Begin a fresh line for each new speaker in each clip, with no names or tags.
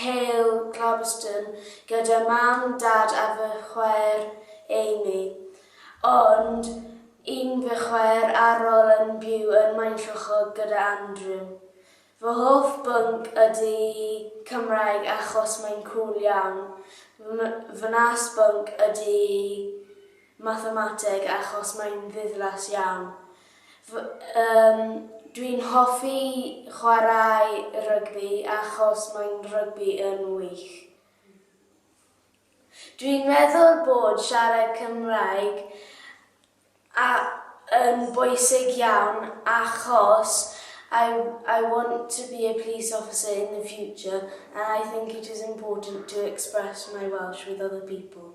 Hale Galveston gyda mam, dad a fy chwaer Amy, ond un fy chwaer ar ol yn byw yn Maenclochog gyda Andrew. Fy hoff bwnc ydy Cymraeg achos mae'n cŵl iawn. Fy wnas bwnc ydy mathemateg achos mae'n ddiflas iawn. Fy- Yym, dwi'n hoffi chwarae rygbi achos mae'n rygbi yn wych. Dwi'n meddwl bod siarad Cymraeg a- yn bwysig iawn achos I I want to be a police officer in the future and I think it is important to express my Welsh with other people.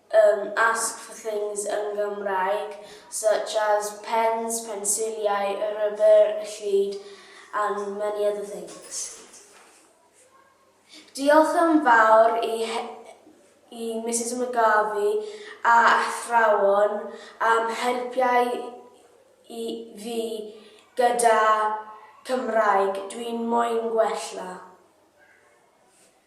Yym, ask for things yn Gymraeg, such as pens, pensiliau, y rubber, y llid, and many other things. Diolch yn fawr i he- i Misus McGarvey a athrawon am helpiau i fi gyda Cymraeg, dwi'n moyn gwella.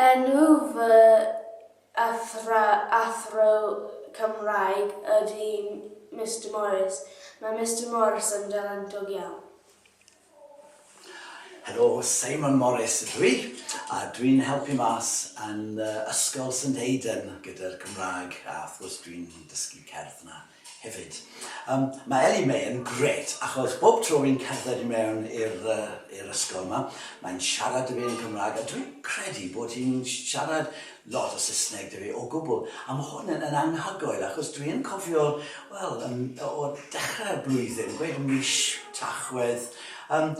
Enw fy
athro Cymraeg ydy Mister Morris. Mae Mister Morris yn dalentog iawn.
Helo, Simon Morris ydw i, a dwi'n helpu mas yn Ysgol St Aidan gyda'r Gymraeg a wrth gwrs dwi'n dysgu cerdd 'na. hefyd. Yym ma' Ellie Mae yn grêt achos bob tro fi'n cerdded i mewn i'r yy i'r ysgol 'ma mae'n siarad 'da fi yn Cymraeg a dwi'n credu bod hi'n sh- siarad lot o Saesneg 'da fi o gwbl a ma' hwn yn yn anhygoel achos dwi yn cofio wel yn o o dechre'r blwyddyn gweud y mis Tachwedd yym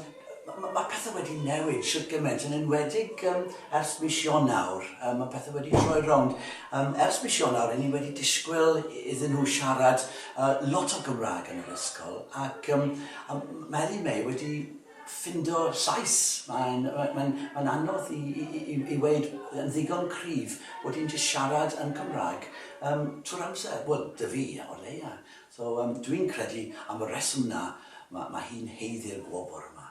Ma- ma' pethe wedi newid shwt gyment, yn enwedig yym ers mis Ionawr, yym ma' pethe wedi troi rownd. Yym ers mis Ionawr 'yn ni wedi disgwyl i- iddyn nhw siarad yy lot o Gymraeg yn yr ysgol ac yym yym ma' Elin May wedi ffindo llais, mae'n ma- mae'n mae'n anodd i i i i i weud yn ddigon cryf bod hi'n jyst siarad yn Cymraeg yym trwy'r amser, wel 'da fi o leia'. So, yym, dwi'n credu am y rheswm 'na, ma', ma' hi'n haeddu'r gwobr yma.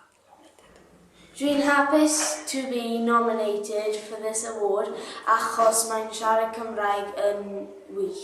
Dwi'n hapus to be nominated for this award achos mae'n siarad Cymraeg yn wych.